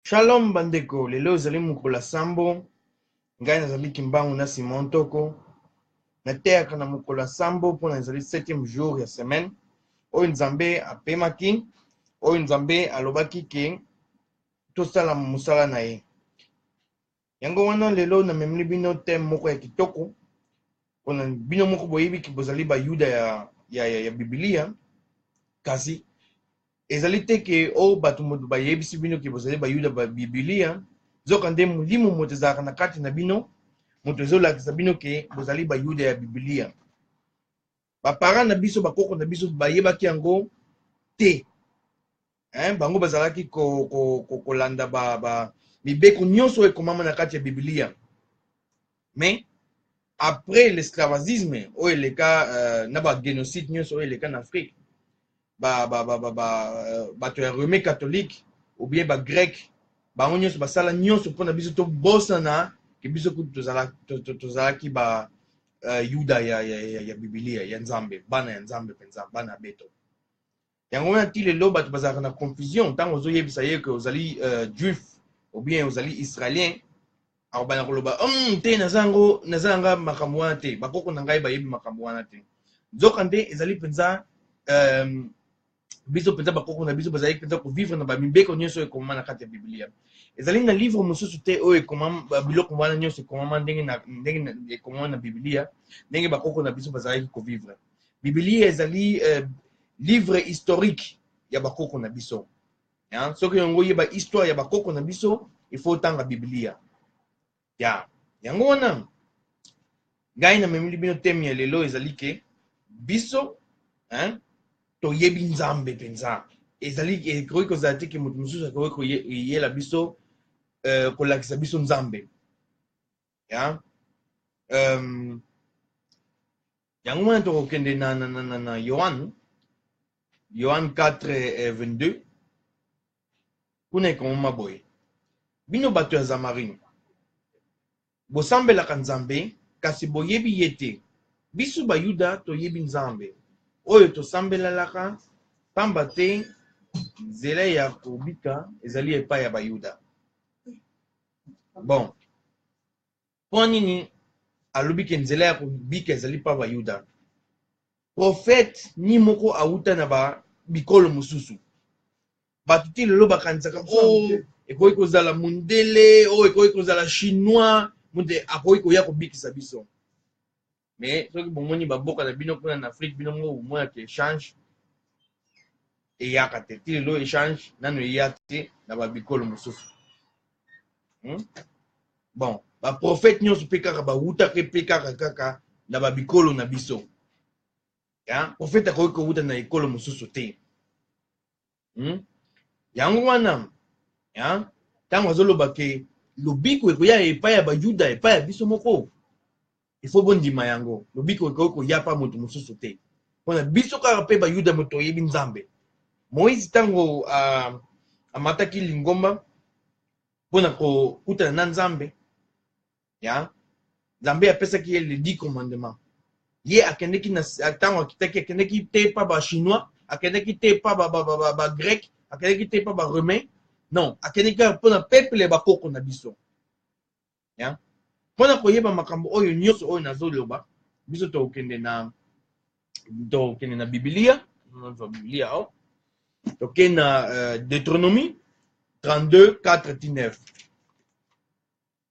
Shalom bandeko, lelo ezali mokolo ya sambo. Ngai nazali Kimbangu na Simon Ntoko. Nateyaka na mokolo ya sambo mpona ezali septième jour ya semaine oyo Nzambe apemaki, oyo Nzambe alobaki ke tosala mosala na ye. Yango wana lelo namemeli bino thème moko ya kitoko pona bino moko boyebi ke bozali bayuda ya, ya, ya, ya bibilia kasi ezali te ke o oh, bato moto bayebisi bino ke bozali bayuda ba bibilia nzoka nde molimo moto ezalaka na kati na bino moto ezolakisa bino ke bozali bayuda ya bibilia ba parents na biso ba koko na biso bayebaki yango te hein? bango bazalaki kolanda ko, ko, ko landa ba, ba mibeko nyonso oyo ekomama na kati ya biblia mais après l'esclavagisme oyo eleka euh, na bagénocide nyonso oyo eleka na afrique ba, ba, ba, ba, ba, euh, bato ya rome catholique obie bagreke bango nyonso basala nyonso mpo na biso tobosana ke biso kutu tozalaki to, to, tozalaki ba uh, yuda ya, ya, ya, ya bibilia ya nzambe bana ya nzambe mpenza bana ya beto yango wana ti lelo bato bazalaka na confusion ntango ozoyebisa ye ke ozali uh, juif obien ozali israélien akobanda koloba um, te naza yango naza yanga makambo wana te bakoko na ngai bayebi makambo wana te nzoka nde ezali mpenza um, biso mpenza bakoko na biso bazali mpenza kovivre na bamibeko nyonso oyo ekomama na kati ya biblia ezali na livre mosusu te oyo ekomama biloko wana nyonso ekomama ndenge ndenge ekomama na biblia ndenge bakoko na biso bazalaki kovivre biblia ezali uh, livre historique ya bakoko na biso Hein? Soki olingi oyeba histoire ya bakoko na biso, il faut otanga Biblia. Ya yango wana ngai namemeli bino teme ya lelo ezali ke biso hein, toyebi Nzambe mpenza. Ezali ekoki kozala te ke moto mosusu akoki koyela biso euh, kolakisa biso Nzambe. ya um, yango wana tokokende na, na, na, na, na yohane yohane 4 eh, 22 kuna ekomama boye bino bato ya zamarine bosambelaka nzambe kasi boyebi ye te biso bayuda toyebi nzambe oyo tosambelalaka pamba te nzela ya kobika ezali epai ya bayuda bon mpo nini alobi ke nzela ya kobika ezali mpa bayuda profete ni moko awuta na ba bikolo mosusu bato ti lelo bakanisaka o oh, ekoki kozala mondele oyo oh, ekoki kozala chinois moto akoki koya kobikisa biso mais soki bomoni baboka na bino kuna na afrique bino moko bomona te echange eyaka te ti lelo echange nano eya te na babikolo mosusu hmm? bon baprofete nyonso mpe kaka bawutaka mpe kaka kaka na babikolo na biso profete akoki kowuta na ekolo mosusu te hmm? yango wana ntango azoloba ke lobiko ekoya epai ya bayuda epai ya biso moko ifo bondima yango lobiko ekoki koya mpa moto mosusu te mpona biso kaka mpe bayuda moto toyebi nzambe moïse ntango uh, amataki lingomba mpo na kokutana na nzambe ya nzambe apesaki ye le 10 commandement ye akendeki na ntango akitaki akendeki te pa ba chinois akendeki te pa ba, ba, ba, ba, ba grec akendeki te pa ba romain non akendeki kaka mpo na peuple ya bakoko na biso ya mpo na koyeba makambo oyo nyonso oyo nazoloba biso tokokende na tokokende na bibilia nazwa bibilia awa oh. tokende na uh, deuteronomie 32 4 9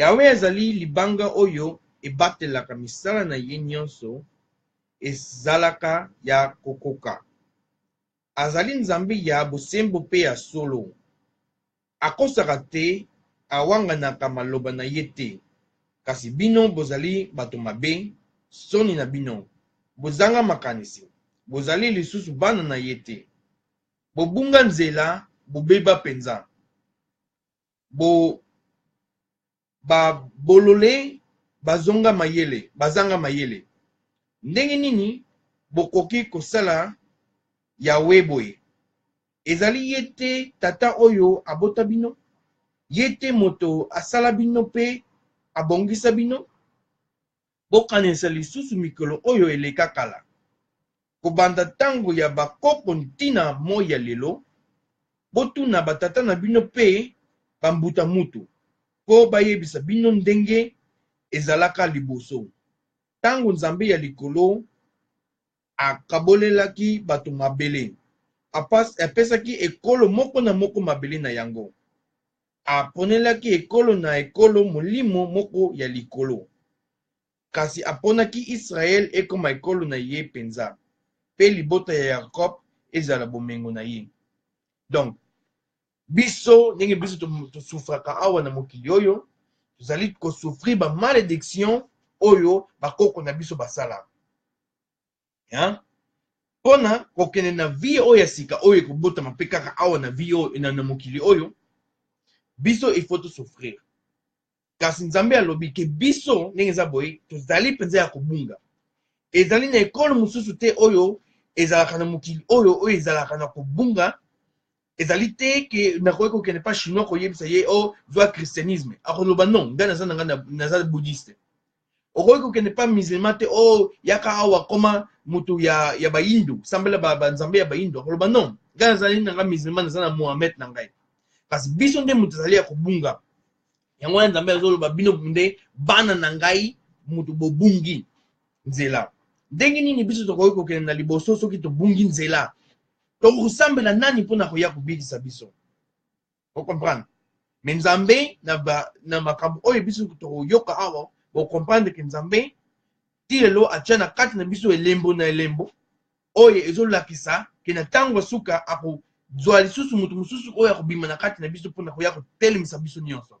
Yawe azali libanga oyo ebatelaka misala na ye nyonso ezalaka ya kokoka. Azali Nzambe ya bosembo mpe ya solo. Akosaka te, awanganaka maloba na ye te. Kasi bino bozali bato mabe, soni na bino! Bozanga makanisi, bozali lisusu bana na ye te. Bobunga nzela, bobeba penza. bo ba bolole bazonga mayele bazanga mayele ndenge nini bokoki kosala yawe boye ezali ye te tata oyo abota bino ye te moto asala bino mpe abongisa bino Bokanisa lisusu mikolo oyo eleka kala, kobanda tango ya ba koko ntina moi ya lelo. Botuna ba tata na bino pe ba mbuta mutu po bayebisa bino ndenge ezalaka liboso, tango Nzambe ya likolo Akabolelaki bato mabele. Apas, apesaki ekolo moko na moko mabele na yango. Aponelaki ekolo na ekolo molimo moko ya likolo. Kasi aponaki Yisraele ekoma ekolo na ye mpenza, mpe libota ya Yakob ezala bomengo na ye. Donc, biso ndenge biso tosufraka awa na mokili oyo, tozali kosufrir ba malediction oyo bakoko na biso basala. hein? mpona kokende na vie oyo ya sika oyo ekobotama mpe kaka awa na vie oyo na, na mokili oyo biso il faut tosouffrir kasi nzambe alobi ke biso ndenge eza boye tozali mpenza ya kobunga ezali na ekolo mosusu te oyo ezalaka na mokili oyo oyo ezalaka na kobunga ezali te ke nakoki kokende mpa chinois koyebisa ye o oh, zwa christianisme akoloba non ngai naza na ngai naza bouddhiste okoki kokende mpa musulman te o oh, yaka awa koma moto ya, ya bayindo sambela banzambe ba ya bayindo akoloba non ngai nazali na ngai musulman naza na mohamed na ngai kasi biso nde moto ezali ya kobunga yango wana nzambe azoloba bino nde bana na ngai moto bobungi nzela ndenge nini biso tokoki kokende na liboso soki tobungi nzela tokosambela nani mpo na koya kobikisa biso okomprendre me nzambe na, ba, na makambo oyo biso tokoyoka awa bokomprendre ke nzambe ti lelo atya na kati na biso elembo na elembo oyo ezolakisa ke na ntango ya suka akozwa lisusu moto mosusu oyo akobima na kati na biso mpo na koya kotelemisa biso nyonso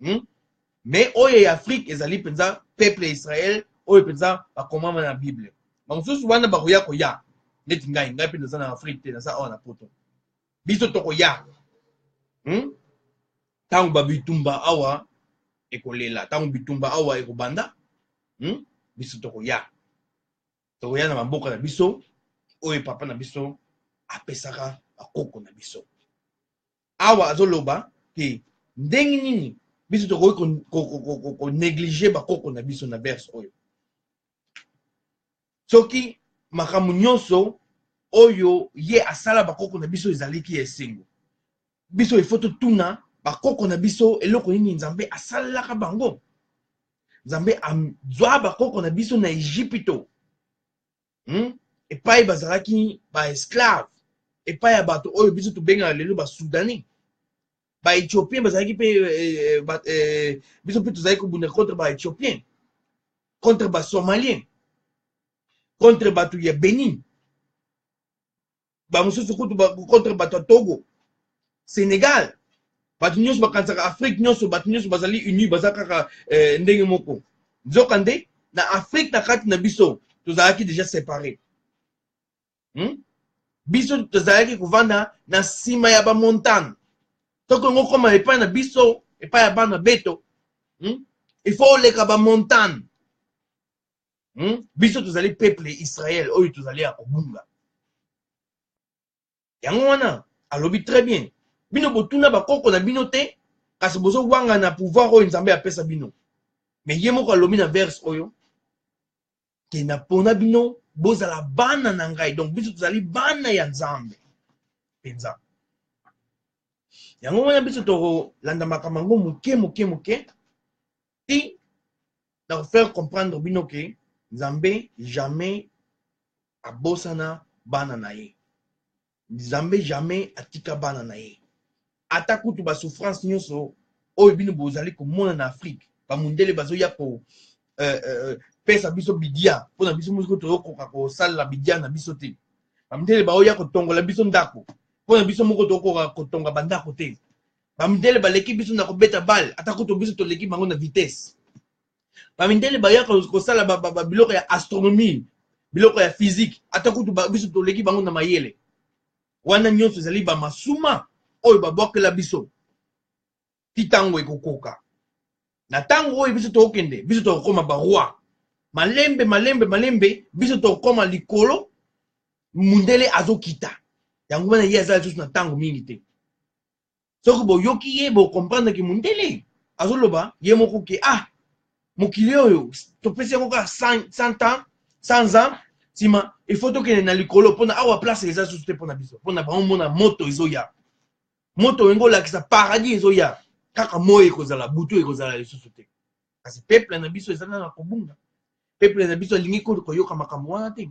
hmm? mais oyo ya afrique ezali mpenza peuple ya israel oyo mpenza bakomama na bible bamosusu wana bakoya koya neti ngai ngai mpe naza na afrique te naza awa na poto biso tokoya hmm? ntango hmm? babitumba awa ekolela ntango bitumba awa ekobanda hmm? biso tokoya tokoya na bamboka na biso oyo papa na biso apesaka bakoko na biso awa azoloba ke ndenge nini biso tokoki konéglige bakoko na biso na verse oyo soki makambo nyonso oyo ye asala bakoko na biso ezaliki ya esengo biso ifo totuna bakoko na biso eloko nini nzambe asalelaka bango nzambe azwa bakoko na biso na egipito hmm? epai bazalaki baesclave epai ya bato oyo biso tobengaka lelo basudani baethiopien bazalaki mpe eh, eh, eh, biso mpe tozalaki kobunda contre baethiopien contre basomalien contre bato ya benin bamosusu kutu contre bato ya togo sénégal bato nyonso bakanisaka afrique nyonso bato nyonso bazali uni baza kaka eh, ndenge moko nzoka nde na afrique na kati na biso tozalaki deja séparé hmm? biso tozalaki kovanda na nsima ya bamontane soki yango okoma epai na biso epai ya bana beto hmm? il faut oleka bamontane hmm? biso tozali peuple israel oyo tozali ya kobunga yango wana alobi très bien bino botuna bakoko na bino te kasi bozowanga na pouvoir oyo nzambe apesa bino me ye moko alobi na verse oyo te napona bino bozala bana na ngai donc biso tozali bana ya nzambe mpenza yango wana biso tokolanda makambo yango moke moke moke ti na ko faire comprendre bino ke nzambe jamais abosana bana na ye nzambe jamais atika bana na ye ata kutu basouffrance nyonso oyo bino bozali komona na afrike bamundele bazoya ko euh, euh, pesa biso bidia mpo na biso moko toyokoka kosalela bidia na biso te bamundele baoya kotongola biso ndako mpo na biso moko tokoka kotonga bandako te bamindele baleki biso na kobeta bale ata kutu biso toleki bango na vitesse bamindele bayaka kosala biloko ya astronomie biloko ya physique ata kutu biso toleki bango na mayele wana nyonso ezali bamasuma oyo babwakela biso ti ntango ekokoka na ntango oyo biso tokokende biso tokokoma baroi malembe malembe malembe biso tokokoma likolo mundele azokita yango wana ye azala lisusu na ntango mingi te soki boyoki ye bocomprendre ke mundele azoloba ye moko ke ah mokili oyo topesi yango kaka 100 ans 100 ans nsima il faut tokende na likolo mpona awa place eza susu te mpona biso mpona bango mona moto ezoya moto oyo ngolakisa paradis ezoya kaka moi ekozala butu ekozala lisusu te kasi peuple na biso eza nana kobunga peuple na biso alingi koyoka makambo wana te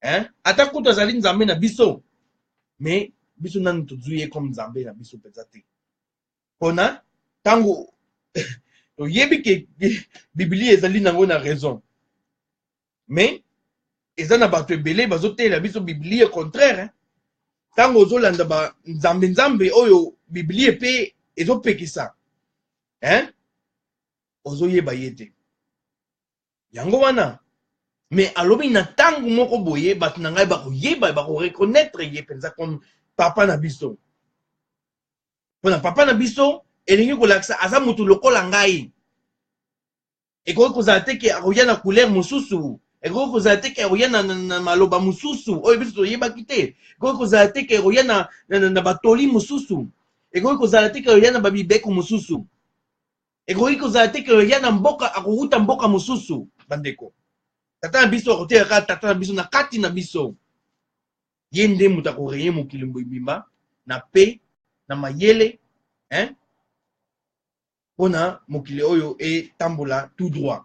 hein? ata kutu azali nzambe na biso mais biso nanu tozwi ye comme nzambe na biso mpenza te mpona ntango toyebi ke biblia ezali nango na raison mais eza na bato ebele bazoteela biso biblia contraire ntango ozolanda banzambe nzambe oyo biblia mpe ezopekisa hein? ozoyeba ye te yango wana mais alobi na ntango moko boye bato na ngai bakoyeba bakoreconnaitre ye mpenza comme papa na biso mpo na papa na biso elingi kolakisa aza moto lokola ngai ekoki kozala te ke akoya na couleur mosusu ekoki kozala te ke akoya na, na, na maloba mosusu oyo biso toyebaki te ekoki kozala te ke akoya na, na, na, na batoli mosusu ekoki kozala te ke akoya na babibeko mosusu ekoki kozala te ke ya na mboka akowuta mboka mosusu bandeko tata na biso akoteya kaka tata na biso na kati na biso ye nde moto akoreye mokili mobimba na pe na mayele hein? mpona mokili oyo etambola tout droit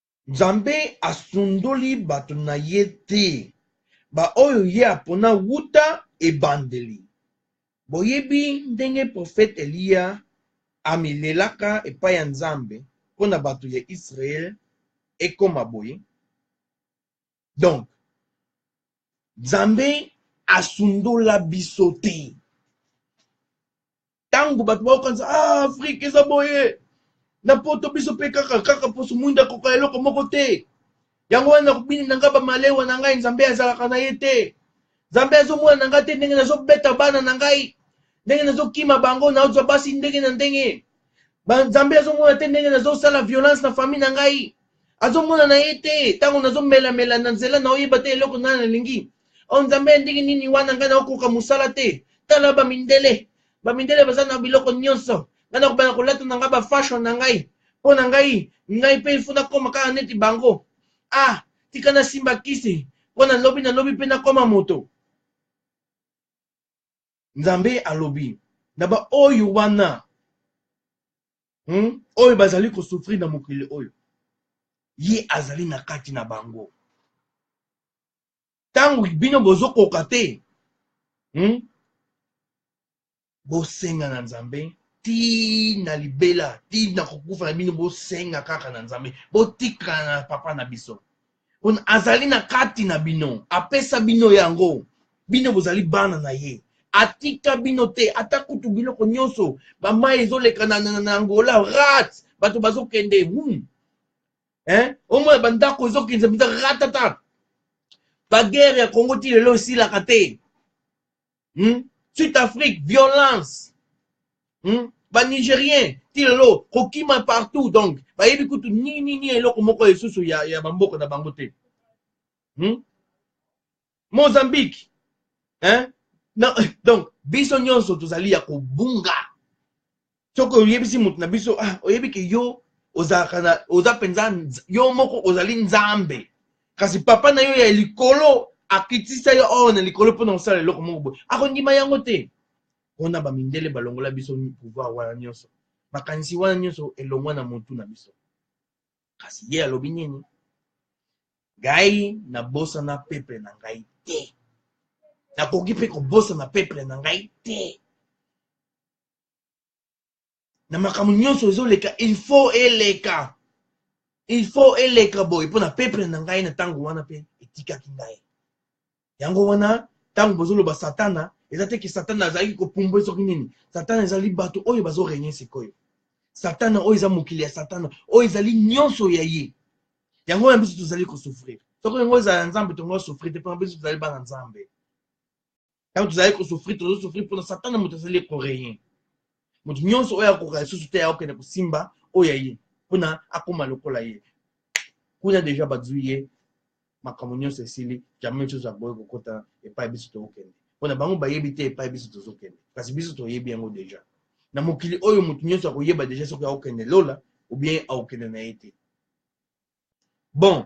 Nzambe asundoli bato na ye te, baoyo ye apona uta ebandeli. Boyebi ndenge profete Eliya amilelaka epai ya Nzambe mpo na bato ya Yisraele ekoma boye, donc nzambe asundola biso te ntango bato bakokanisa ah, afrika eza boye na poto biso mpe kaka kaka mposo mwinda akoka eloko moko te yango wana nakobini na ngai bamalewa na ngai nzambe azalaka na ye te nzambe azomona na ngai te ndenge nazobeta bana na ngai ndenge nazokima bango nazwa basi ndenge na ndenge nzambe azomona te ndenge nazosala violence na famille na ngai azomona na ye te ntango nazomelamela na nzela na oyeba te eloko ngai nalingi o oh, nzambe ya ndenge nini wana ngai naokoka mosala te tala bamindele bamindele baza na biloko nyonso ngai nakobanda kolata na ngai bafashion na ngai mpo na ngai ngai mpe ifo nakoma kaka neti bango ah tika nasimba kisi mpo na lobi na lobi mpe nakoma moto nzambe alobi na baoyo wana hmm? oyo bazali kosufrir na mokili oyo ye azali na kati na bango ntango bino bozokoka te hmm? bosenga na nzambe ti na libela ti na kokufa na bino bosenga kaka na nzambe botikala na papa na biso pona azali na kati na bino apesa bino yango bino bozali bana na ye atika bino te ata kutu biloko nyonso bamai ezoleka na, na, na angola rat bato bazokende hmm. eh? omona bandako ezokende mpenza ratata bagere ya kongo ti lelo esilaka te hmm? sud afrique violence hmm? banigérien ti lelo kokima partout donc bayebi kutu ninini eloko moko esusu ya, ya bamboka na bango te hmm? mozambique hein? Na, donc biso nyonso tozali ya kobunga soki oyebisi moto na biso ah, oyebi ke yo ozalaka na oza mpenza nz- yo moko ozali nzambe kasi papa na yo ya likolo akitisa yo awa na likolo mpo na kosala eloko moko boye akondima yango te mpona bamindele balongola biso pouvoir wana nyonso makanisi wana nyonso elongwa na motu na biso kasi ye alobi nini ngai nabosana peple na ngai te nakoki mpe kobosana peple na ngai te na makambo nyonso ezoleka il faut eleka il faut eleka boye mpo na peuple na ngai na ntango wana mpe etikaki ngai yango wana ntango bozoloba satana eza te ke satana azalaki kopumbwe soki nini satana ezali bato oyo bazorenye sikoyo satana oyo eza mokili ya satana oyo ezali nyonso ya ye yango wana biso tozali kosouffrir soki yango ezala nzambe tongo asouffrir te mpona biso tozali bana nzambe ntango tozali kosufri tozosufri mpo na satana moto azali ekoreyen moto nyonso oyo akoka lisusu te akokende kosimba oyo ya ye mpo na akóma lokola ye kuna deja bazwi ye makambo nyonso esili jamai nyonso akoki kokota epai biso tokokende mpo na bango bayebi te epai biso tozokende kasi biso toyebi yango deja na mokili oyo moto nyonso akoyeba deja soki akokende lola obien akokende na ye te bon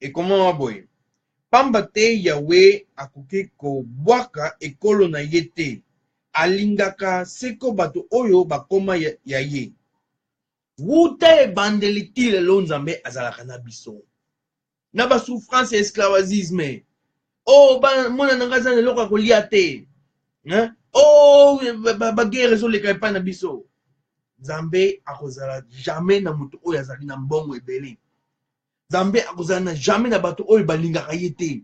ekomama boye mpamba te yawe akoki kobwaka ekolo na ye te alingaka seko bato oyo bakoma ya, ya ye wuta ebandeli ti lelo nzambe azalaka na biso na basouffrance ya esclavagisme oh ba mwana na ngai aza na eloko ya kolia te hein? oh bagere ezoleka epai na biso nzambe akozala jamais na moto oyo azali na mbongo ebele nzambe akozala na jamais na bato oyo balingaka ye te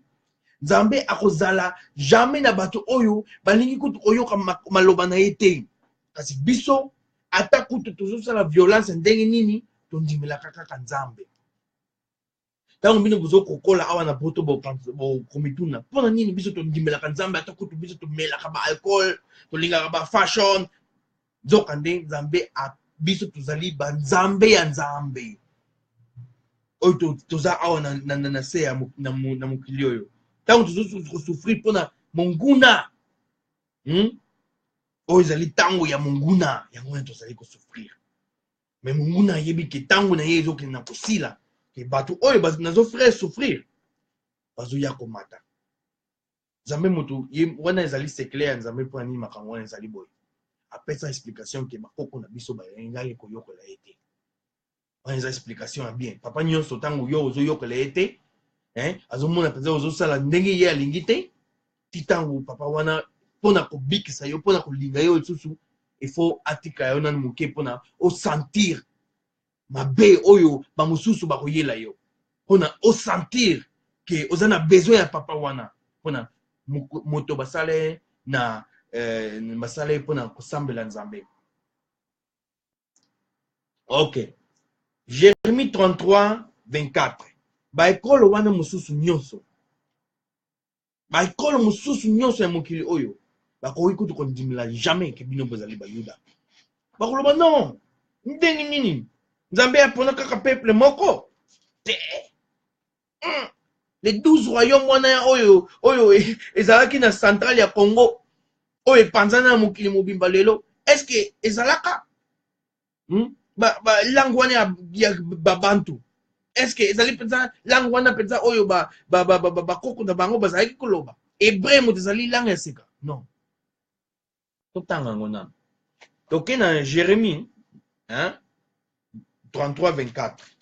nzambe akozala jamais na bato oyo balingi kutu koyoka maloba na ye te kasi biso ata kutu tozosala violence ndenge nini tondimelaka kaka nzambe ntango bino bozo kokola awa na poto bokomituna mpo na nini biso tondimelaka nzambe ata kutu biso tomelaka ba alcool tolingaka ba fashion nzoka nde nzambe biso tozali banzambe ya nzambe oyo toza awa na, na, na, na se ya na, na mokili oyo ntango tozokosufrir mpo na monguna hmm? oyo ezali ntango ya monguna yango wana tozali kosufrir mais monguna ayebi ke ntango na ye ezokende na kosila ke bato oyo nazo frere souffrir bazoya komata nzambe moto ye wana ezali sekle ya nzambe mpo na nini makambo wana ezali boye apesa explication ke bakoko na biso bayengaki koyokola ye te wana eza explication ya bien papa nyonso ntango yo ozoyokola ye te azomona mpenza ozosala ndenge ye alingi te ti ntango papa wana mpo na kobikisa yo mpo na kolinga yo lisusu ifo atika yo nanu moke mpo na osentir mabe oyo bamosusu bakoyela yo mpo na osentir ke oza na besoin ya papa wana mpo na moto basala ye na eh, basala ye mpo na kosambela nzambe ok jeremie 33 24 baekolo wana mosusu nyonso baekolo mosusu nyonso ya mokili oyo bakoki kutu kondimela jamais ke bino bozali bayuda bakoloba non ndenge nini nzambe apona kaka peuple moko te mm. le 12 royaume wana ya oyo oyo e, ezalaki na central ya congo oyo epanzana na mokili mobimba lelo eske ezalaka hmm? ba, ba langue wana ya, ya babantu est ce que ezali mpenza langue wana mpenza oyo bakoko ba, ba, ba, ba, bakoko na bango bazalaki koloba hebreu moto ezali langue ya sika non totanga yango nano toke na jérémie hein? 33 24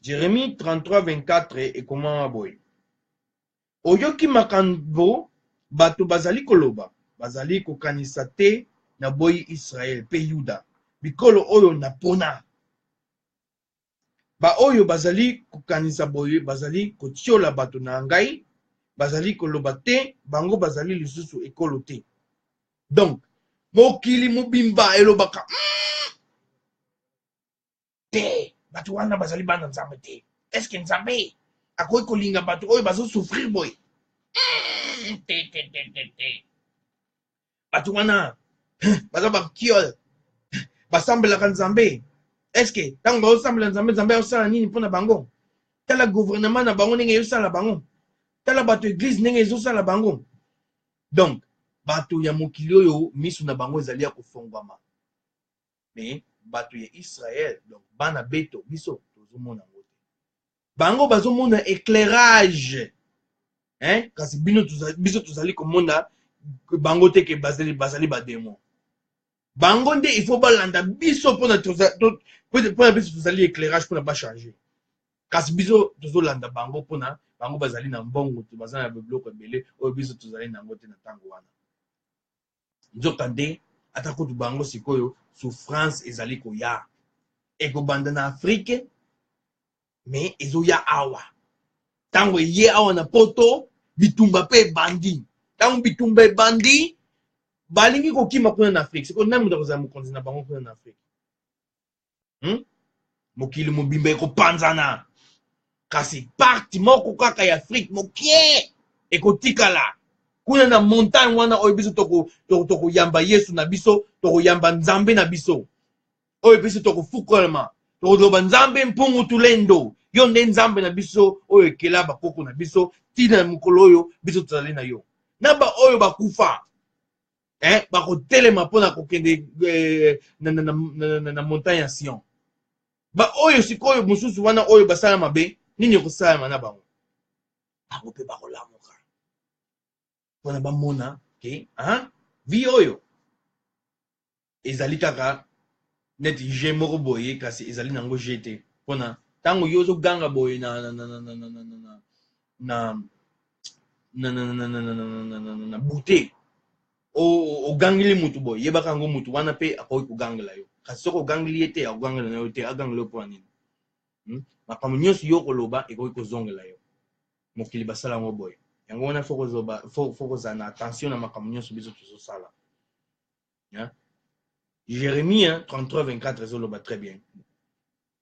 jérémie 33 24 ekomama boye Oyoki makambo bato bazali koloba? Bazali kokanisa tè naboyi Israel pe Yuda, bikolo oyo napona. Baoyo bazali kokanisa boye bazali kotiola bato na ngai, bazali koloba tè bango bazali lisusu ekolo te. Donc, mokili mobimba elobaka, Umm! te bato wana bazali bana nzambe te eske nzambe akoki kolinga bato oyo bazosouffrir boye hmm, te te te te te bato wana baza bakiole basambelaka nzambe eske ntango baosambela nzambe nzambe aosala nini mpo na bango tala gouvernement na bango ndenge ezosala bango tala bato eglize ndenge ezosala bango donc bato ya mokili oyo miso na bango ezali ya kofongwama mais bato ya israel donc bana beto biso tozomona yango te bango bazomona éclairage hein? kasi bino tuzali, biso tozali komona bango te ke bazali, bazali bademo bango nde il faut balanda biso mpona mpona biso tozali éclairage mpona bachange kasi biso tozolanda bango mpona bango bazali na mbongo baza na biloko ebele oyo biso tozali na yango te na ntango wana Nzokande, ata kutu bango sikoyo souffrance ezali koya. Ekobanda na Afrique mais ezoya awa. Tango eye awa na poto bitumba pe ebandi. Tango bitumba ebandi balingi kokima kuna na Afrique. Sikoyo nani moto akozala mokonzi na bango kuna na Afrique? hmm? mokili mobimba ekopanzana kasi parti moko kaka ya afrique mokie ekotikala kuna na montagne wana oyo biso tokoyamba toko yesu na biso tokoyamba nzambe na biso oyo biso tokofukolama tokoloba nzambe mpungu tulendo yo nde nzambe na biso oyo ekela bakoko na biso ntina ya mokolo oyo biso tozali na yo na baoyo bakufa eh, bakotelema mpo na kokende eh, na, na, na, na, na, na montagne ya sion baoyo sikoyo mosusu wana oyo basala mabe nini ekosalama na bango bango mpe bakolamuka mpona bamona ke vi oyo ezali kaka neti je moko boye kasi ezali nango je te mpona ntango yo ozoganga boye na na na na na na na na na bute ogangeli motu boye yebaka yango motu wana mpe akoki kogangela yo kasi soki ogangeli ye te akogangela na yo te agangela yo mpona nini makambo nyonso yo okoloba ekoki kozongela yo mokili basala yango boye yango wana fo kozala na attention na makambo nyonso biso tozosala hein? jeremie 33 24 ezoloba très bien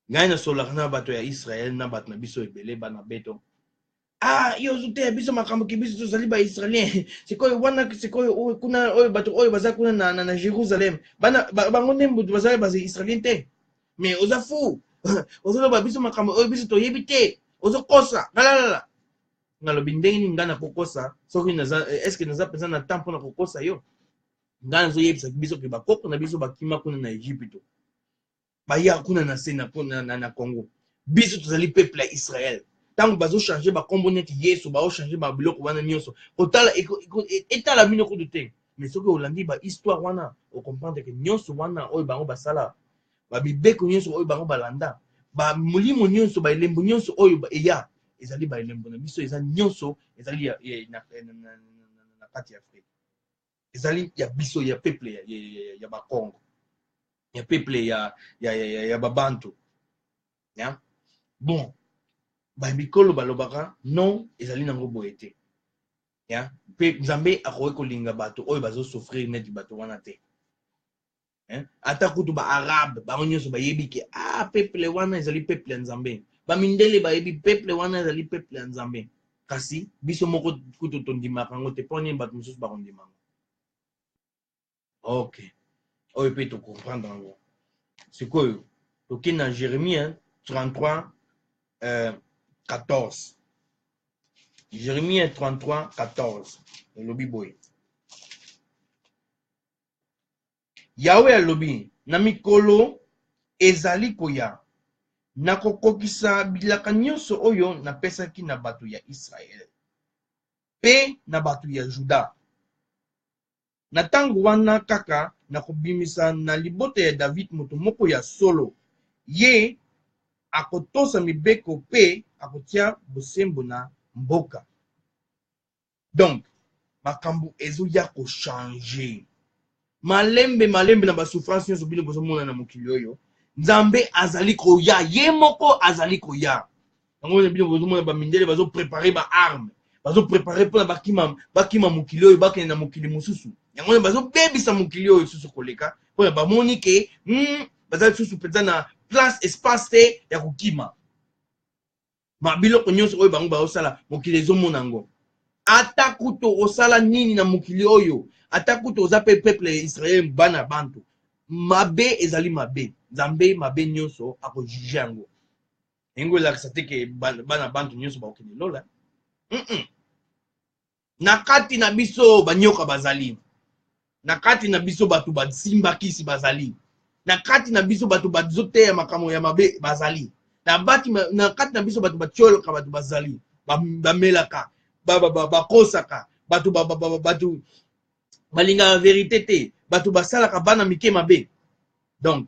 ngai nasololaka na bato ya israele na bato na biso ebele bana beto ah yo ozoteya biso makambo ke biso tozali baisraelien sikoyo wana sikoyo oyo kuna oyo bato oyo baza kuna na, na, na jérusalem bana ba, bango nde mbutu bazali baisraelien te mais oza fou ozoloba biso makambo oyo biso toyebi te ozokosa lalalala nalobi ndenge nini ngai nakokosa soki naza eske naza mpenza na temps mpo na kokosa yo ngai nazoyebisa biso mpe bakoko na biso bakima kuna na egypito baya kuna na se na congo biso tozali peuple ya israel ntango bazochange bakombo neti yesu baochange babiloko wana nyonso kotala etala bino kutu te mais soki olandi bahistware wana okomprendre ke nyonso wana oyo bango basala bamibeko nyonso oyo bango balanda bamolimo nyonso baelembo nyonso oyo eya ezali baelembo na biso eza nyonso ezali na kati ya afrika ezali ya biso ya peuple ya, ya, ya, ya bakongo ya peuple ya, ya, ya, ya, ya babantu ya bon bamikolo balobaka non ezali nango boye te ya mpe nzambe akoki kolinga bato oyo bazosouffrir neti bato wana te hein? ata kutu ba arabe bango nyonso bayebi ke ah peuple wana ezali peuple ya nzambe bamindele bayebi peuple wana ezali peuple ya nzambe kasi biso moko kutu tondimaka yango te mpo nini bato mosusu bakondima yango ok oyo mpe tocomprendre yango sikoyo toke na jérémie 33 euh, 14 jérémie 33 14 elobi boye Yawe alobi, na mikolo ezali koya, nakokokisa bilaka nyonso oyo napesaki na bato ya Israel pe na bato ya Juda. Na tango wana kaka nakobimisa na libota ya David moto moko ya solo, ye akotosa mibeko pe akotia bosembo na mboka. donc makambo ezoya kochange malembe malembe na basouffrance nyonso bino bozomona na mokili oyo nzambe azali koya ye moko azali koya yango wana bino bozomona bamindele bazoprepare baarme bazoprepare mpona bakima bakima mokili oyo bakende na mokili mosusu yango wana bazobebisa mokili oyo lisusu koleka mpona bamoni ke mm, baza lisusu mpenza na place espace te ya kokima babiloko nyonso oyo bango baosala mokili ezomona yango ata kutu osala nini na mokili oyo ata kutu oza mpe peuple ya israel bana bantu mabe ezali mabe nzambe mabe nyonso akojuge yango yango elakisa te ke bana bantu nyonso bakokende lola mm -mm. na kati na biso banyoka bazali na kati na biso bato basimba kisi bazali na kati na biso bato bazoteya makambo ya mabe bazali na, bati, na kati na biso bato batiolaka bato bazali bamelaka bakosaka bato bato balingaka verite te bato basalaka bana mike mabe donc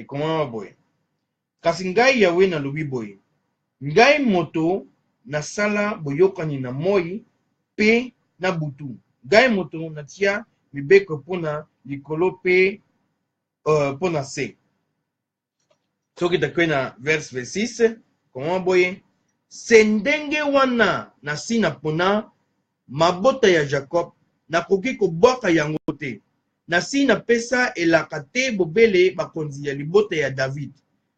ekomama boye kasi ngai yawe nalobi boye ngai moto nasala boyokani na moi mpe na butu ngai moto natia mibeko mpo na likolo mpe uh, mpo na se sokita kue na verse 26 komama boye se ndenge wana nasi napona mabota ya jacob nakoki kobwaka yango te nasi napesa elaka te bobele bakonzi ya libota ya david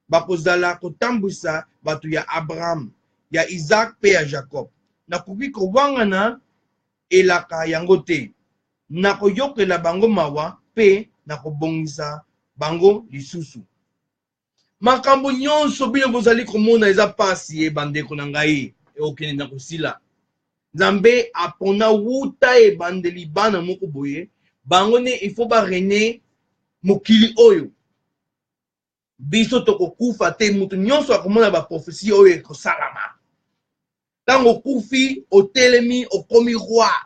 bakozala kotambwisa bato ya abraham ya isak mpe ya jacob nakoki kowangana elaka yango te. Nakoyokela bango mawa mpe nakobongisa bango lisusu. Makambo nyonso bino bozali komona eza mpasi ye bandeko na ngai ekokende na kosila. Nzambe apona wuta ebandeli bana moko boye bango nde il faut ba rene mokili oyo biso tokokufa te moto nyonso akomona baprofesi oyo ekosalama ntango okufi otelemi okomi roi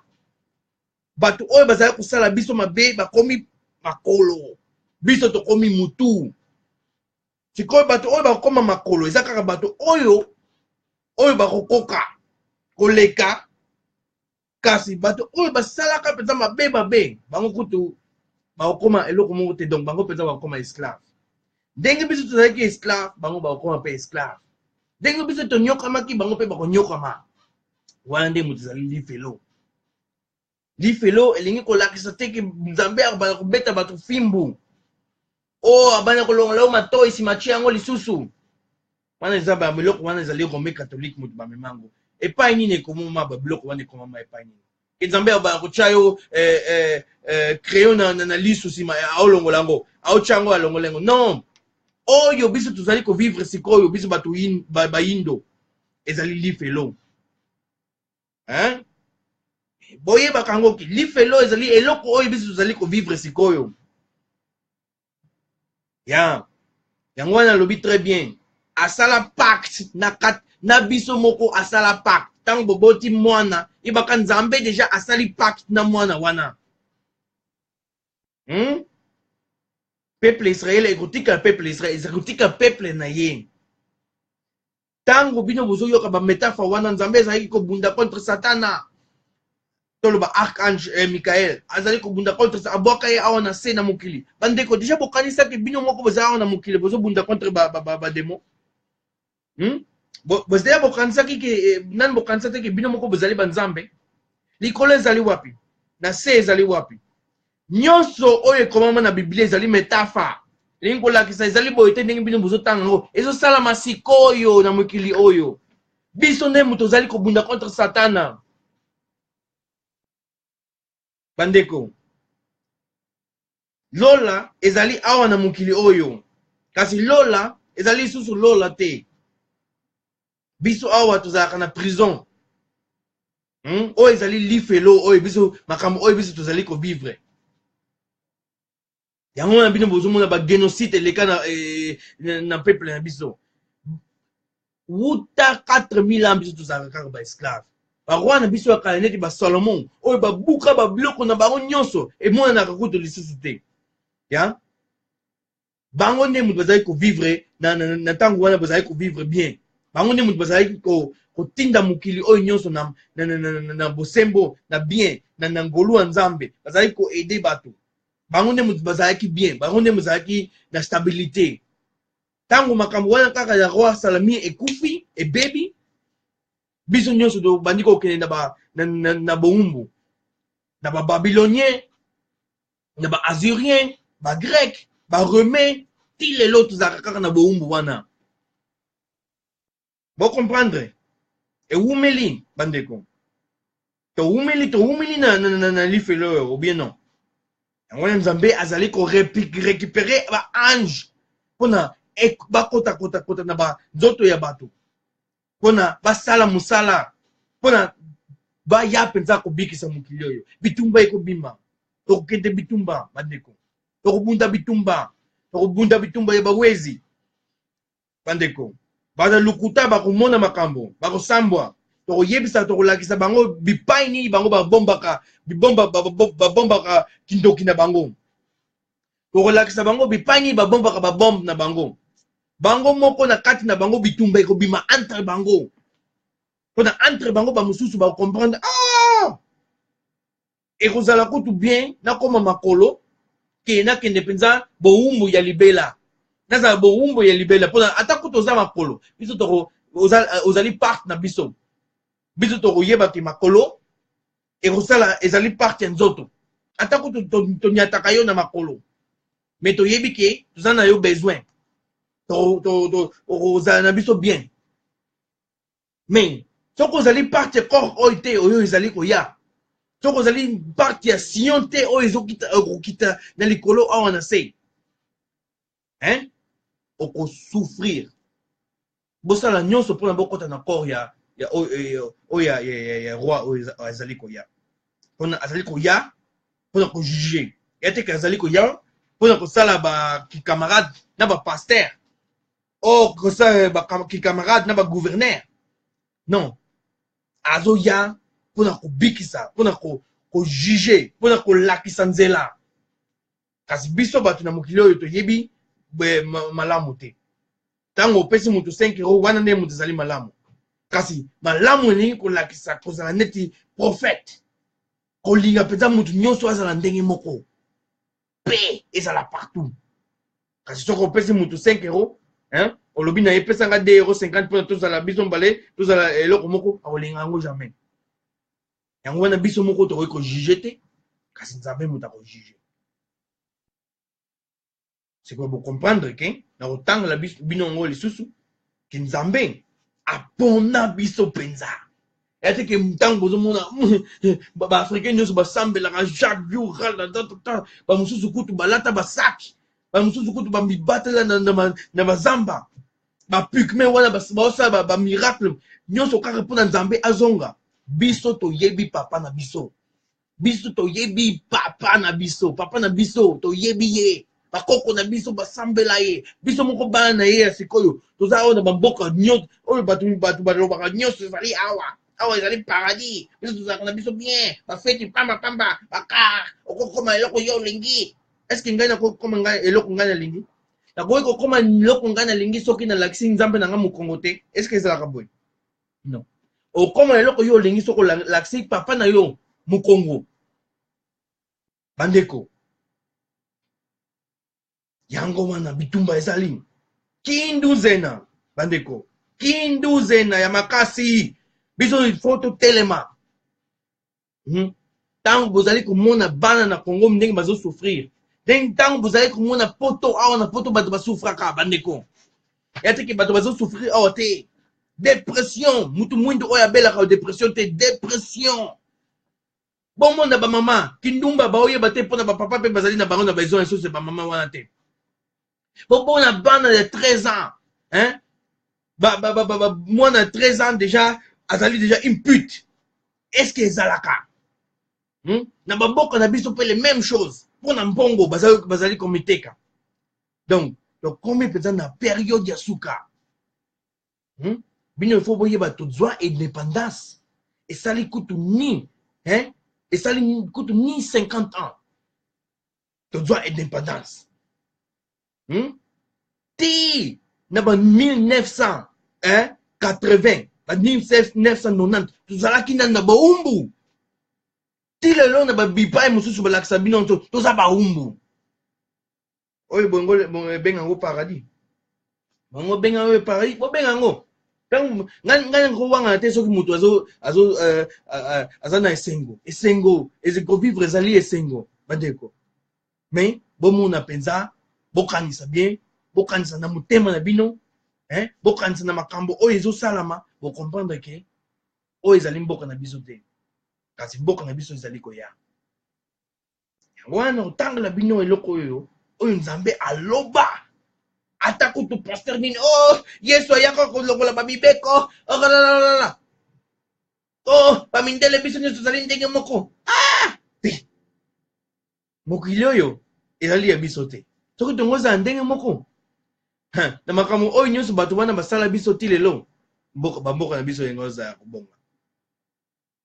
bato oyo bazali kosala biso mabe bakomi makolo biso tokomi mutu sikoyo bato oyo bakokoma makolo eza kaka bato oyo oyo bakokoka koleka kasi bato oyo basalaka mpenza mabe mabe bango kutu bakokoma eloko moko te donc bango mpenza bakokoma esclave ndenge biso tozalaki esclave bango bakokoma mpe esclave ndenge biso tonyokamaki bango mpe bakonyokama wana nde moto ezali lifelo lifelo elingi kolakisa te ke nzambe akobanda kobeta bato fimbu oyo oh, abanda kolongola yo matoi nsima tie yango lisusu wana eza babiloko wana ezali rome katholike moto bamema yango epai nini ekomoma babiloko wana ekomama epai nini ke nzambe abaya kotya yo eh, eh, eh, crayon na, na, na lisu nsima aolongola yango aotya yango alongola yango non oyo biso tozali kovivre sikoyo biso bato bayindo ezali lifelo hein? boyebaka yango ki lifelo ezali eloko oyo biso tozali kovivre sikoyo ya yango wana alobi très bien asala pacte na kat na biso moko asala pacte ntango boboti mwana yebaka nzambe deja asali pacte na mwana wana hmm? peuple israele ekotika peuple israele ekotika peuple na ye ntango bino bozoyoka bametafore wana nzambe ezalaki kobunda contre satana toloba archange eh, michael azali kobunda contre abwaka ye awa na se na mokili bandeko deja bokanisaki bino moko boza awa na mokili bozobunda contre bademo ba, ba, ba hmm? bozeya bokanisaki ke eh, nani bokanisa te ke bino moko bozali banzambe likolo ezali wapi na se ezali wapi nyonso oyo ekomama na biblia ezali metafa elingi kolakisa ezali boye te ndenge bino bozotanga yango ezosalama sikoyo na mokili oyo biso nde moto ozali kobunda contre satana bandeko lola ezali awa na mokili oyo kasi lola ezali lisusu lola te biso awa tozalaka na prison hmm? oyo ezali lifelo oyo biso makambo oyo biso tozali kovivre yango wana bino bozomona bagénocide eleka na, eh, na, na peuple na biso wuta 4000 ans biso tozalaka kaka baesclave baroi na biso ya kala neti basalomon oyo babuka babiloko na bango nyonso emonanaka kutu lisusu te ya bango nde moto bazalaki kovivre na ntango wana bazalaki kovivre bien bango nde moto bazalaki kotinda mokili oyo nyonso na, na, na, na, na, na bosembo na bien na, na ngolu ya nzambe bazalaki koede bato bango nde moto bazalaki bien bango nde mozalaki na stabilité ntango makambo wana kaka ya roi salami ekufi ebebi biso nyonso tobandi kokende na, ba, na, na, na boumbu na bababilonien na baassurien bagreke barome ti lelo tozalaka kaka na boumbu wana bo comprendre ewumeli bandeko towumeli towumeli na, na, na, na lifelo oyo obie non yango wana nzambe azali korecupere baange mpona bakotakotakota na banzoto ya bato mpona basala mosala mpona baya mpenza kobikisa mokili oyo bitumba ekobima tokokende bitumba bandeko tokobunda bitumba tokobunda bitumba ya bawezi bandeko baza lokuta bakomona makambo bakosambwa tokoyebisa tokolakisa bango bipai nini bango babombaka bibomba babombaka kindoki na bango tokolakisa bango bipai nini babombaka babombe na bango bango moko na kati na bango bitumba ekobima entre bango mpona entre bango bamosusu bakomprendre ah! ekozala kutu bien nakoma makolo ke nakende mpenza bowumbu ya libela nazala bowumbu ya libela mpo ata kutu oza makolo biso toko oza, ozali parte na biso biso tokoyeba ke makolo ekosala ezali parte ya nzoto ata kutu tonyataka yo na makolo me toyebi ke toza na yo besoin okozala na biso bien mais soki ozali parti ya corps oyo te oyo ezali koya soki ozali parti ya sion te oyo ezokokita euh, na likolo awa na se hein okosouffrir bosala nyonso mpona bokɔta na corps ya ya oyo euh, ya, ya, ya, ya roi oyo azali koya mpona azali koya mpona kojuge ya teke azali koya mpona kosala bacamarade na bapaster or kosa bakamarade na bagouverneur non azoya mpo na kobikisa mpo na kojuge mpo na kolakisa nzela kasi biso bato na mokili oyo toyebi malamu te ntango opesi moto 5 euro wana nde moto ezali malamu kasi malamu elingi kolakisa kozala neti profete kolinga mpenza moto nyonso azala ndenge moko paix ezala partout kasi soki opesi motu 5 euro hein? olobi na ye pesa nga 2 euro 50 mpona tozala biso mbale tozala eloko moko akolinga yango jamais yango wana biso moko tokoki kojuge te kasi nzambe moto akojuge sikoyo bocomprendre ke na kotangela bino yango lisusu ke nzambe apona biso mpenza ya te ke ntango bozomona baafricain nyonso basambelaka jacques biural na tatata bamosusu kutu balata basaki bamosusu kutu bamibatela na bazamba bapukme wana baosala bamiracle nyonso kaka mpo na nzambe azonga biso toyebi papa na biso biso toyebi papa na biso papa na biso toyebi ye bakoko na biso basambela ye biso moko bana na ye ya sikoyo toza oyo na bamboka nyonso oyo bato bato balobaka nyonso ezali awa awa ezali paradis biso tozalaka na biso bien bafeti pamba pamba bakar okokoma eloko yo olingi eske ngai nakokoma ngai eloko ngai nalingi nakoki kokoma eloko ngai nalingi soki nalakisi nzambe na ngai mokongo te eske ezalaka boye non okoma na eloko yo olingi soko lakisi papa na yo mokongo bandeko yango wana bitumba ezali kinduzena bandeko kinduzena ya makasi biso il faut totelema hmm? ntango bozali komona bana na congo ndenge bazosouffrir ndenge ntango bozali komona poto awa na poto bato basouffraka bandeko ya teke bato bazosouffrir awa te depression motu mwindu oyo abelaka depression te depression bomona bamama kindumba baoyeba te mpo na bapapa mpe bazali na bango na besoin ya soso ya bamama wana te bomona bana ya 13 ans hein? ba, ba, ba, ba, ba, mwana ya 13 ans déjà azali déjà une pute est-ce que ezalaka hmm? na bamboka na biso mpe le même chose mpo na mbongo bazali, bazali komiteka donc tokomi mpenza na periode ya suka hmm? bino ifo boyeba tozwa indépendance esali kutu ni hein? esali kutu ni 50 ans tozwa independance hmm? ti na ba 1980 ba 1990 tozalaki nani na baumbu ti lelo na babipai mosusu balakisa bino nso toza baumbu oyo ebenge yango paradis bango benga yo paris bobenga yango ntango ngai ngai nakowangana te soki moto azo azo euh, euh, euh, aza na esengo esengo ezi- kovivre ezali esengo bandeko mais bomona mpenza bokanisa bien bokanisa na motema na bino hein? bokanisa na makambo oyo ezosalama bocomprendre ke oyo ezali mboka na biso te kasi mboka na biso ezali koya yango wana na kotangela bino eloko oyo oyo nzambe aloba ata kutu paster nini o oh, yesu ayaka kolongola bamibeko okalalala oh, o oh, bamindele biso nyonso tozali ndenge moko ah! te mokili oyo ezali ya biso te soki tongo ezala ndenge moko na makambo oyo nyonso bato wana basala biso ti lelo bamboka na biso yango ezala kobonga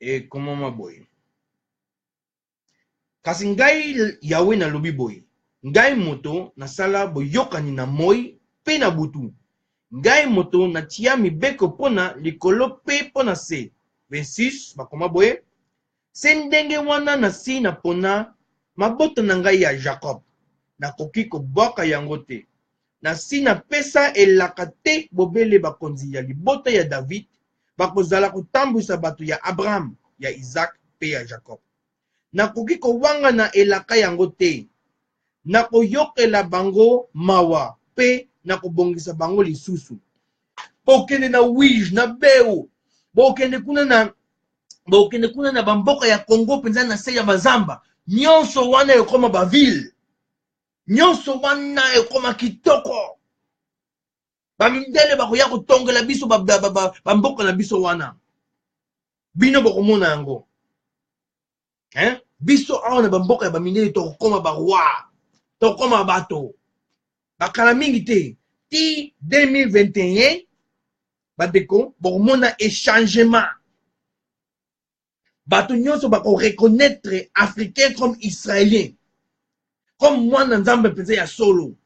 ekomama boye kasi ngai yawe nalobi boye ngai moto nasala boyokani na moi mpe na butu ngai moto natia mibeko mpo na likolo mpe mpo na se 26 bakoma boye se ndenge wana nasi napona mabota na ngai ya jacob nakoki kobwaka yango te Nasi napesa elaka tè bobele bakonzi ya libota ya David bakozala kotambwisa bato ya Abraham, ya Izaak pe ya Jakob. Nakoki kowangana elaka yango te. Nakoyokela bango mawa pe nakobongisa bango lisusu. Bokende na Uige, na Beu, bokende kuna na, bokende kuna na bamboka ya Congo penza, na se ya bazamba nyonso wana ekoma bavile. nyonso wana ekoma kitoko bamindele bakoya kotongela biso bamboka ba, ba, ba, ba na biso wana bino bokomona yango eh? biso awa na bamboka ya bamindele tokokoma baroi tokokoma bato bakala mingi te ti 2021 bandeko bokomona echangement bato nyonso bako reconnaitre africain comme israelien comme mwana nzambe mpenza ya solo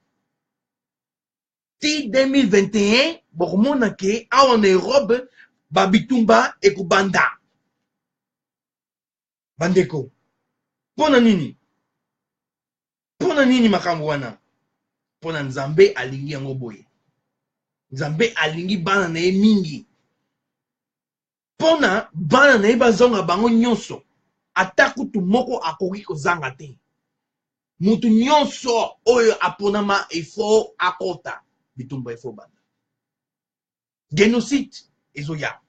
ti 2021 bokomona ke awa na europe babitumba ekobanda bandeko mpo na nini mpo na nini makambo wana mpo na nzambe alingi yango boye nzambe alingi bana na ye mingi mpo na bana na ye bazonga bango nyonso ata kutu moko akoki kozanga te moto nyonso oyo aponama efo akota bitumba efo banda genocide ezoya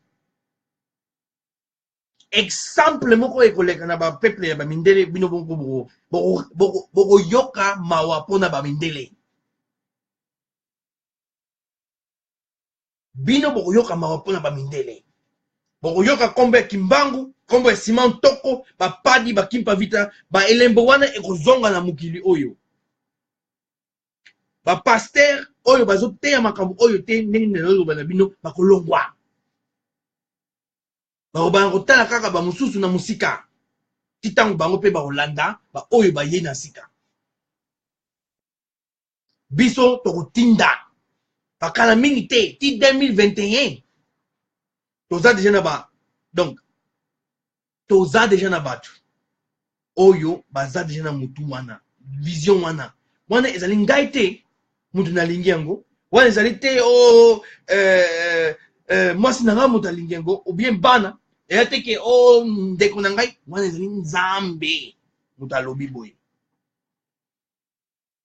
exemple moko ekoleka na bapeuple ya bamindele bino bokoyoka mawa mpo na bamindele bino bokoyoka mawa mpo na bamindele bokoyoka nkombo ya kimbangu nkombo ya sima ntoko bapadi bakimpa vita baelembo wana ekozonga na mokili oyo bapaster oyo bazoteya makambo oyo te ndenge naloloba na bino bakolongwa bakobana kotala kaka bamosusu na mosika ti ntango bango mpe bakolanda baoyo baye na sika biso tokotinda bakala mingi te ti 2021 toza deja na ba donc toza deja na bato oyo baza deja na motu wana vision wana wana ezali ngai te motu nalingi yango wana ezali te o oh, eh, eh, mwasi na ngai moto alingi yango obien bana eya te ke o oh, ndeko na ngai wana ezali nzambe moto alobi boye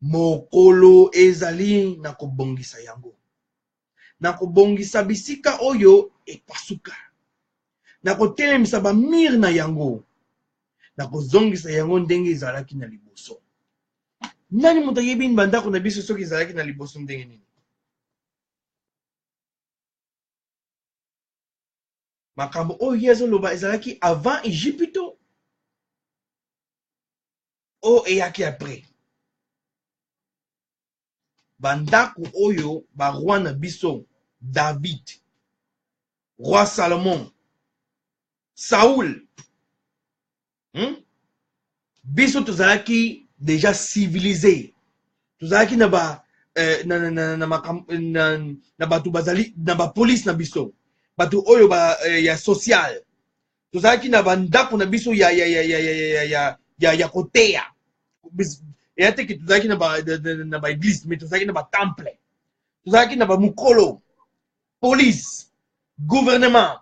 Mokolo ezali na kobongisa yango, na kobongisa bisika oyo epasuka, na kotelemisa bamir na yango, na kozongisa yango ndenge ezalaki na liboso. Nani moto ayebi nini bandako na biso soki ezalaki na liboso ndenge nini? makambo oyo ye azoloba ezalaki avant egypito oyo eyaki après bandako oyo baroi na biso david roi salomon saul hmm? biso tozalaki déjà civilise tozalaki na ba eh, na, na, na, na, na, na bato bazali na bapolice na biso bato oyo ba, eh, ya sociale tozalaki na bandako na biso ya, ya, ya, ya, ya, ya, ya, ya, ya, ya koteya eya te ke tozalaki na baeglise mais tozalaki na batemple tozalaki na bamokolo police gouvernement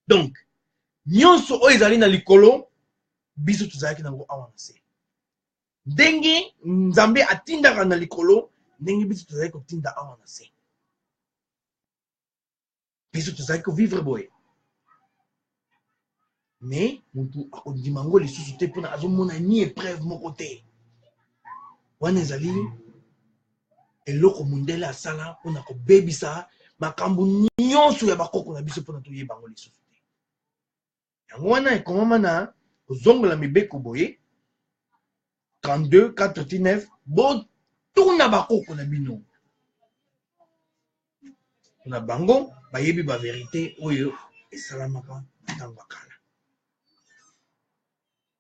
donc nyonso oyo ezali na likolo biso tozalaki nango awa na se ndenge nzambe atindaka na likolo ndenge biso tozali kotinda awa na se biso tozalaki kovivre boye mais motu akondima yango lisusu te mpona azomona ni epreuve moko te wana ezali eloko mondele asala mpona kobebisa makambo nyonso ya bakoko na biso mpona toyeba yango lisusu yango wana ekomama na kozongola mibeko boye 32 49 botuna bakoko na bino na bango bayebi baverite oyo esalamaka ntango ya kala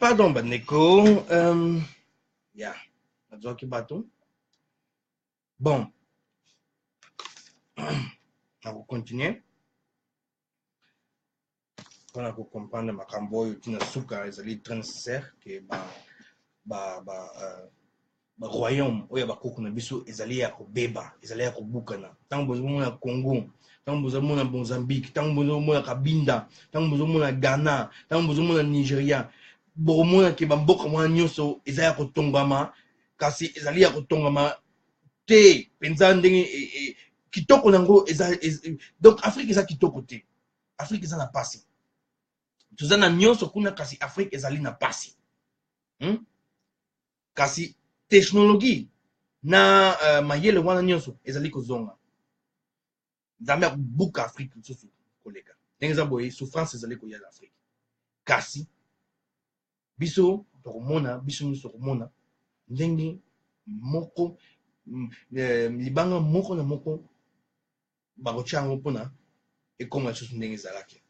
Pardon bandeko, um, ya yeah. nazwaki bato bon nakokontinue mpona kocomprendre makambo oyo ntina suka ezali très nécessaire ke ba, ba, ba uh, baroyaume oyo ya bakoko na biso ezali ya kobeba ezali ya kobukana ntango bozomona congo ntango bozomona mozambique ntango bozomona kabinda ntango bozomona ghana ntango bozomona nigeria bokomona ke bamboka mwana nyonso eza ya kotongama kasi ezali ya kotongama te mpenza ndenge e, e, kitoko na yango eza donc afrique eza kitoko te afrique eza na pasi toza na nyonso kuna kasi afrique ezali na pasi hmm? Kasi technologie na uh, mayele wana nyonso ezali kozonga nzambe akobuka afrike lisusu koleka ndenge eza boye souffrance ezali koya na afrike kasi biso tokomona biso nyonso tokomona ndenge moko mm, eh, libanga moko na moko bakotya yango mpona ekoma lisusu ndenge ezalaki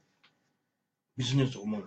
biso nyonso tokomona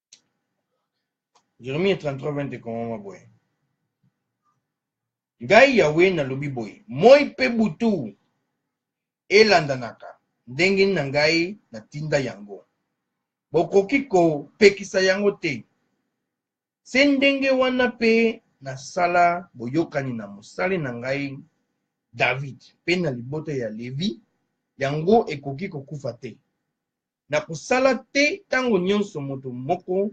Jeremie 33, 20 ekomama boye. Ngai Yawe nalobi boye, moi mpe butu elandanaka ndenge na ngai natinda yango. Bokoki kopekisa yango te. Se ndenge wana mpe nasala boyokani na mosali na ngai David mpe na libota ya Levi, yango ekoki kokufa te. na kosala te ntango nyonso moto moko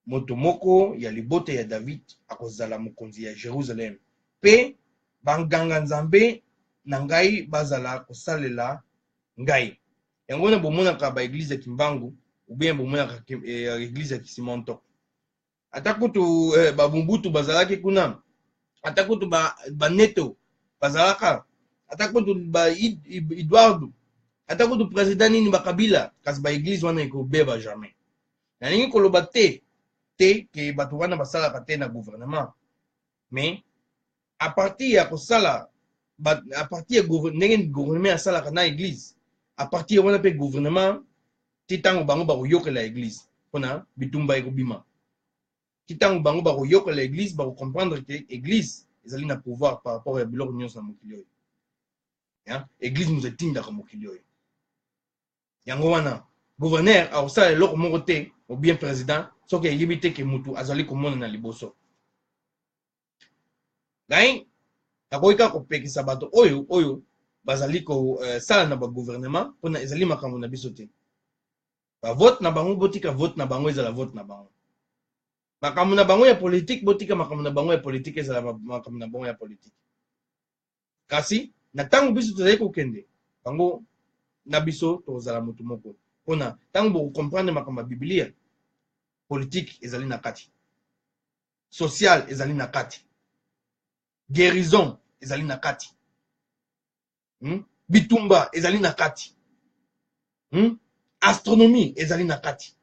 moto moko ya libota ya David akozala mokonzi ya Jerusalem, mpe banganga-nzambe na ngai bazala kosalela ngai. Yango wana bomonaka ba eglise ya Kimbangu ou bien bomonaka eh, eglise ya Kisimantoko. ata kutu eh, bamobutu bazalaki kuna ata kutu baneto ba bazalaka ata kutu ba eduardo ata kutu president nini bakabila kasi baeglize wana ekobeba jamais nalingi koloba te te ke bato wana basalaka te na gouvernement mais à partir ya kosala à partir ya ndenge gouvernement asalaka na église à partir wana mpe gouvernement ti ntango bango bakoyokela église mpona bitumba ekobima ti ntango bango bakoyokela église bakocomprendre ke église ezali na pouvoir par rapport ya biloko nyonso na mokili oyo église moto etindaka mokili oyo yango wana gouverneur akosala eloko moko te ou bien président soki ayebi te ke mutu azali komonana liboso ngai nakoki kaka kopekisa bato oyo oyo bazali kosala euh, na bagouvernement mpona ezali makambo na biso te bavote na bango botika vote na bango ezala vote na bango makambo na bango ya politike botika makambo na bango ya politike ezala makambo na bango ya politike Kasi na ntango biso tozali kokende, bango na biso tokozala moto moko. Mpo na ntango bokokomprendre makambo ya Biblia, politike ezali na kati, social ezali na kati, guérison ezali na kati, hmm? bitumba ezali na kati, hmm? astronomie ezali na kati.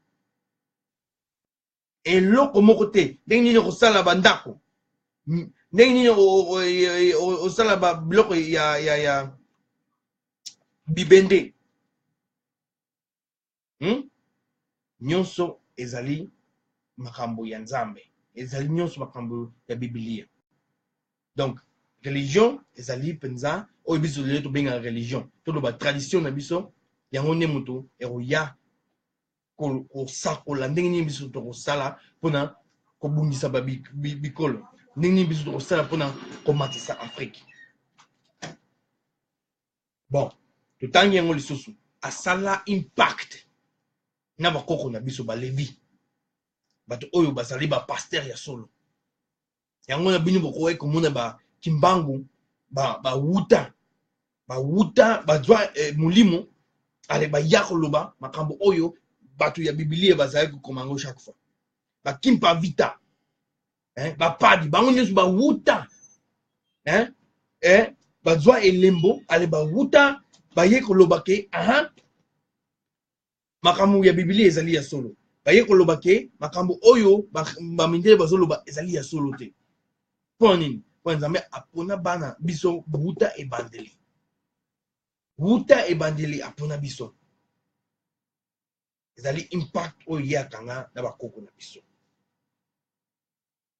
eloko moko te ndenge nini okosala bandako ndenge nini osala biloko ya, ya, ya bibende hmm? nyonso ezali makambo ya nzambe ezali nyonso makambo ya biblia donc religion ezali mpenza oyo biso lelo tobengaka religion toloba tradition na biso yango nde moto ekoya kosakola ndenge nini biso tokosala mpona kobundisa bikolo ndenge nini biso tokosala mpona komatisa afrike bon totangi yango lisusu asala impact na bakoko na biso balevi bato oyo bazali bapaster ya solo yango na bino bokokaki komona ba kimbangu ba ba wuta ba wuta ba zwa eh, molimo ale ba ya koloba makambo oyo bato ya bibilia bazali kokoma yango chaque fois ba kimpa vita eh, ba padi bango nyonso ba wuta eh, eh, ba zwa elembo ale ba wuta ba ye koloba ke aha makambo ya bibilia ezali ya solo baye koloba ke makambo oyo bamindele bazoloba ezali ya solo te mpo nini mpo nzambe apona bana biso wuta ebandeli wuta ebandeli apona biso ezali impact oyo ye akanga na bakoko na biso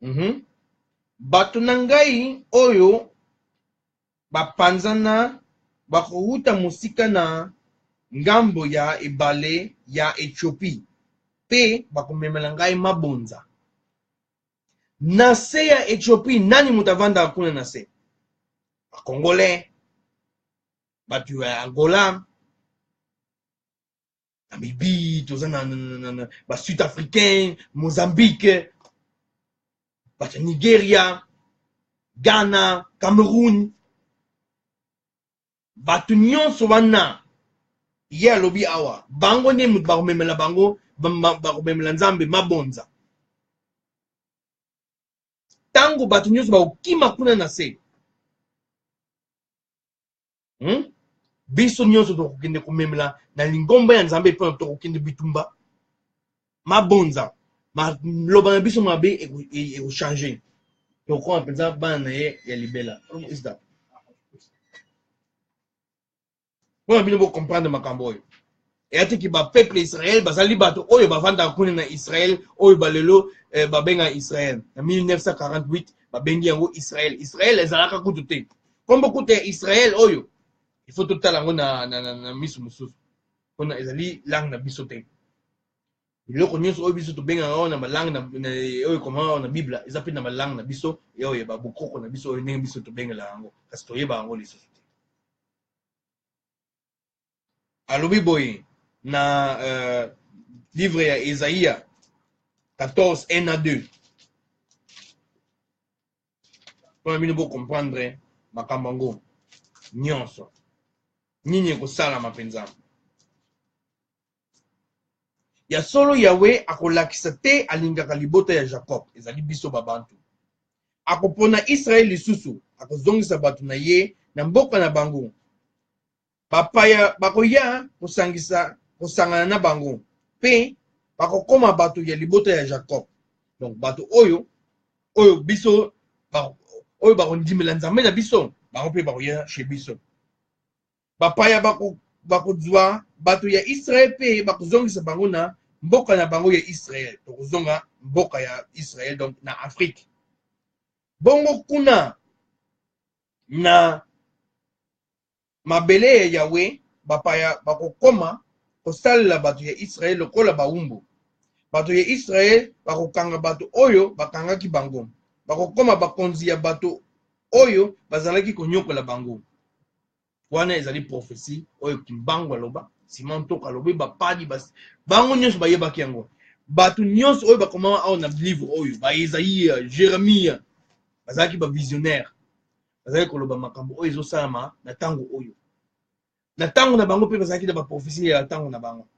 Mhm. Bato na ngai oyo bapanzana bakowuta mosika na ngambo ya ebale ya Etiopi, mpe bakomemela ngai mabonza. Na se ya Etiopi, nani moto avandaka kuna na se? Bakongole, bato ya Angola, namibie toza na, na, na, na, na basud africain mozambique bato ya nigeria ghana cameroun bato nyonso wana ye alobi awa bango nde moto bakomemela bango bakomemela nzambe mabonza ntango bato nyonso bakokima kuna na se hmm? biso nyonso tokokende komemela na lingomba ya nzambe epai na tokokende bitumba mabonza maloba na biso mabe ekochange e, tokoma mpenza bana na ye ya libela mpona bino bocomprendre makambo oyo eyatiki bapeuple israel bazali bato oyo bavandaka kuna na israel oyo balelo eh, babenga israel na 1948 babengi yango israel israel ezalaka kutu te nkombo kutu ya israel oyo ifo totala yango na, na, na, na miso mosusu mpona ezali langue na biso te biloko nyonso oyo biso tobengaka oyo na balangue oyo ekomaka na bible eza mpe na balangue na biso oyo ya babokoko na biso oyo ndenge biso tobengela yango kasi toyeba yango lisusu alobi boye na euh, livre ya esaïa 14 1 à 2 mpona bino bocomprendre makambo yango nyonso nini ekosalama mpenza ya solo yawe akolakisa te alingaka libota ya jakob ezali biso babantu akopona israele lisusu akozongisa bato na ye na mboka na bango Bapaya bakoya kosangisa kosangana na bango mpe bakokoma bato ya libota ya Jacob. Donc bato oyo oyo biso ba, oyo bakondimela Nzambe na biso bango mpe bakoya chez biso. Bapaya bako bakozwa bato ya Israel mpe bakozongisa bango na mboka na bango ya Israel. Tokozonga mboka ya Israel donc na Afrique. Bongo kuna na mabele ya Yawe, bapaya bakokoma kosalela bato ya Israel lokola bawumbu. Bato ya Israel bakokanga bato oyo bakangaki bango, bakokoma bakonzi ya bato oyo bazalaki konyokola bango. Wana ezali profesi oyo Kimbangu aloba, Simon Ntoko alobi, bapadi bas... bango nyonso bayebaki yango. Bato nyonso oyo bakomama awa na livre oyo, ba Esaïe, Jeremie, bazalaki ba visionnaire bazalaki koloba makambo oyo ezosalama na ntango oyo na ntango na bango mpe bazalaki na baprofesi ya ntango na bango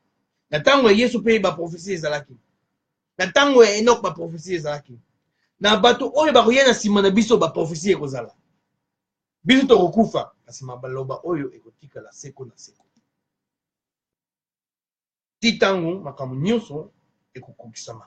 na ntango ya yesu mpe baprofesi ezalaki na ntango ya enok baprofesi ezalaki na bato oyo bakoya na nsima na biso baprofesi ekozala biso tokokufa kasi mabaloba oyo ekotikala seko na seko ti ntango makambo nyonso ekokokisama